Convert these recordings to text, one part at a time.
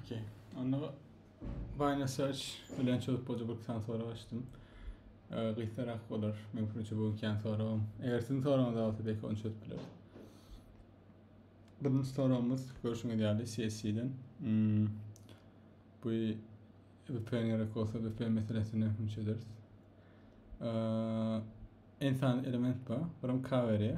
Okey. Onda Binary Search bilen çözüp bolja bir tane soru açtım. Ee, Gysgarak bolar. Men fikrimçe bu ikän soragym. Eger sizin soragyňyz bolsa belki onu çözüp bileris. Birinci soragymyz görüşüňiz ýaly CSC-den. Hmm. Bu VPN gerek olsa VPN meselesini hem çözeriz. Ee, insan element bu. Buram cover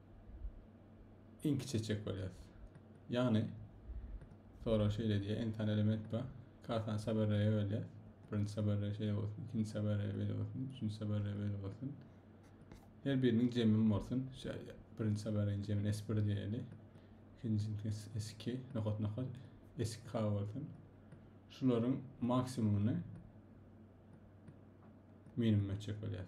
inki çekjek bolýas. Ýagny sorag şeýle diýýär, entan element bar. Kartany saberreye bölýär. Birinji saberreye şeýle bolsun, ikinji saberreye beýle bolsun, üçünji saberreye beýle bolsun. Her biriniň jemim bolsun. Şeýle birinji saberreýiň jemini S1 diýeli. Ikinjisi S2, nokat nokat S2 bolsun. Şularyň maksimumyny minimum etjek bolýar.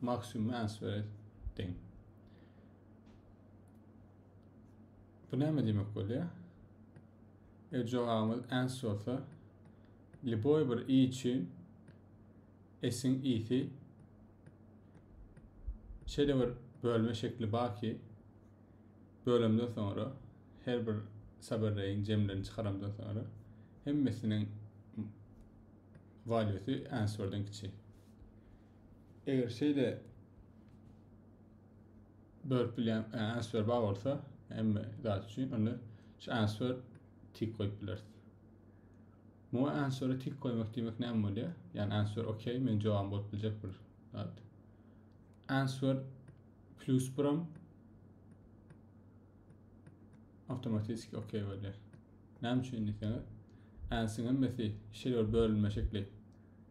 Maksimum answer deň. Bu näme diýmek bolýar? Eger jogabymyz ans bolsa, liboý bir i üçin s-iň i-si şeýle bir bölme şekli bar ki, bölemden soňra her bir saberreýiň jemlerini çykaramdan soňra hemmesiniň walýusy answerden kiçi. Eger şeýle bölüp bilýän e, answer bar bolsa, hemme zat üçin onda şu answer tik goýup bileris. Bu answer tik goýmak diýmek näme bolýar? Ýani answer okey, men jogabym bolup biljek bir zat. Answer plus birim awtomatiki okey bolýar. Näme üçin diýseňiz, ansiň hemmesi şeýle bir bölünme şekli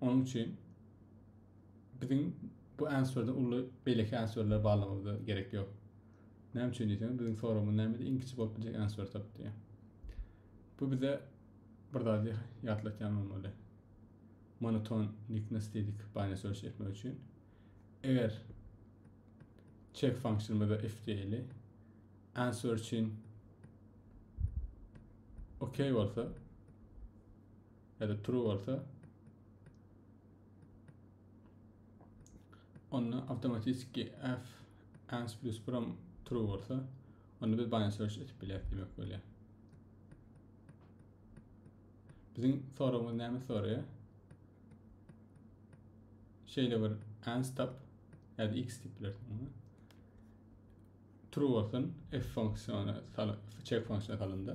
Onuň üçin biziň bu answerden uly beýleki answerleri barlagymyza gerek ýok. Näme üçin diýseňiz, biziň soragymyz nämede iň kiçi bolup biljek answer tap diýýär. Bu bize bir zady ýatlatýan bolmaly. Monoton niknes diýdik bany söýüş etmek üçin. Eger check funksionymyzda if diýeli answer üçin OK bolsa Eger true bolsa onda avtomatiki f ans plus prom true bolsa onda biz bind search etip bileris demek bolýar. Biziň soragymyz näme soraýar? Şeýle bir ans tap ýa-da x diýip bilersiň. True bolsun, f funksiýony salyp, check funksiýony salynda.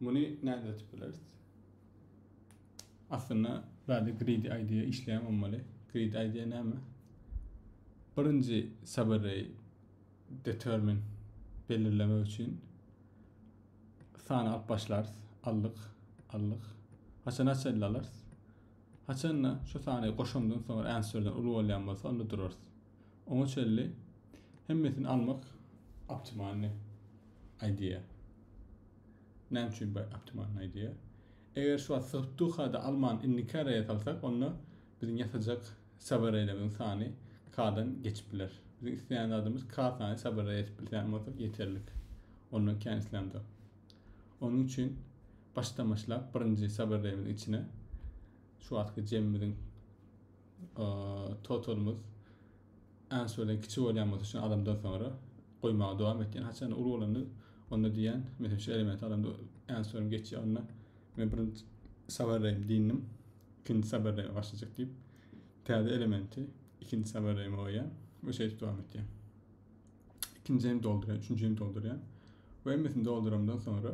Muny nädip açyp bileris? Aslynda bärde greedy idea işleýän bolmaly. Greedy idea näme? Birinji subary determine belirlemek üçin sany alyp başlarys. Aldyk, aldyk. Haçan haçan alarys? Haçanda şu sany goşandan soňra answerden uly bolýan bolsa onda durarys. Oňa çenli hemmesini almak optimalny idea. Näme üçin bu optimalny idea? Eger şu wagt syrtuhada alman indikä reýe salsak, onda biziň ýasajak saber reýlerimiziň sany K-dan geçip biler. Biziň isleýän zadymyz K sany saber reýe edip bilýän bolsak ýeterlik. Ondan kän islämzok. Onuň üçin başdan başlap birinji saber reýimiziň içine şu wagtky jemimiziň totalymyz ançe bilen kiçi bolýan bolsa şu adamdan sonra goýmaga dowam etýän haçan uly bolanda onda diýen mesela şu element alanda ançerim geçýär onda men birinji sabarlaýyn diýdim ikinji sabarlaýyn başlajak diýip täze elementi ikinji sabarlaýyn goýýan we şeýdip dowam etýär ikinjini doldurýan üçünjini doldurýan we hemmesini doldurandan sonra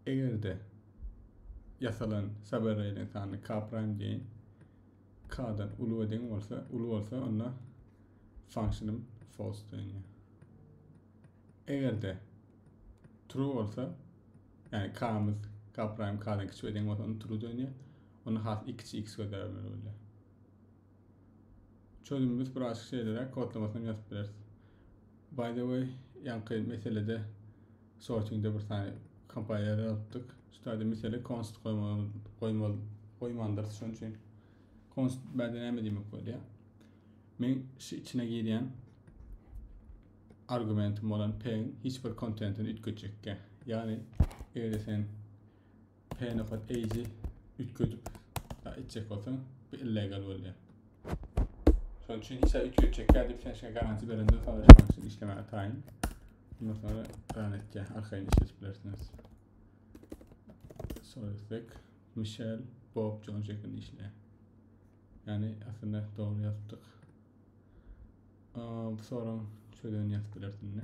Eger-de ýasalan Saberreýliň sany k praým deýin k-dan uly we deň bolsa, uly bolsa, onda function-ym false döneýär. Eger-de true bolsa, ýagny k-myz k praým k-dan kiçi we deň bolsa, onda true döneýär. Onda has ikiçi x gözläp bilmeli bolýar. Çözüm biz birazjyk şeýleräk kodlamasyny hem ýazyp bileris. By the way, ýaňky meselede sortingde bir sany kompailer alypdyk. Şu taýda mesele const goýmaly, goýmaly, goýmandyrys şonuň üçin. Const bäde näme diýmek bolýar? Men şu içine girýän argumentim bolan p-iň hiç bir kontentini üýtgetjekkä. Ýagny, eger sen P nokat eýji üýtgedip etjek bolsaň, bu illegal bolýar. Şonuň üçin hiç zat üýtgetjekkä diýip sen şeýle garantiýa berenden soň şonuň üçin işlemäge taýyn. Ondan sonra beýan etýär, arkaýyn işledip bilersiňiz. Solisek, Michel, Bob, John şeklinde işleýär. Yani aslında doğru yazdık. Aa, bu soran çözülen yazıp bilersin ne?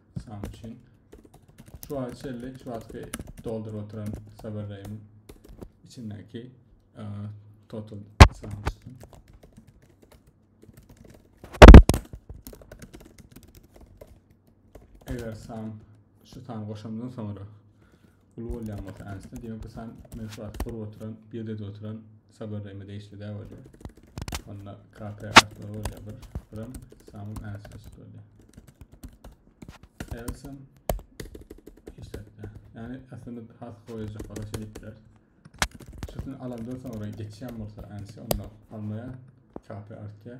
Sam üçin. Şu wagt çelli, şu wagtky dolduryp oturan Saberray'yň içindäki e, total sam çyksyn. Eger sam şu sany goşandan sonra Uly bolýan bolsa ançda diýmek bu san meşhur atyp gurup oturan, birdede oturan Saber Reýme degişli däl bolýar. Onda KP artlar bolýar bir, birim samym ançda çykyp bolýar. Elsim işletdi. Yani aslında has goýajak waka şey diýipler. Şusunu alandan sonra geçýän bolsa ançda onda almaya KP artýar.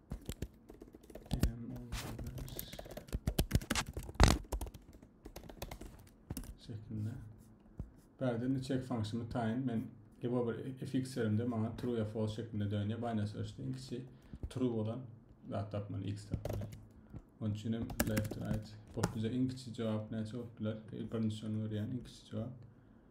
şeklinde. Bärden de check function tayin men Ebo bir fx yerimde bana true ya false şeklinde dönüyor. Binance ölçte en kişi true olan zat tapmalı, x tapmalı. Onun için hem left right. Bot bize en kişi cevap ne cevap bilir. Birinci şunu öğreyen en kişi cevap.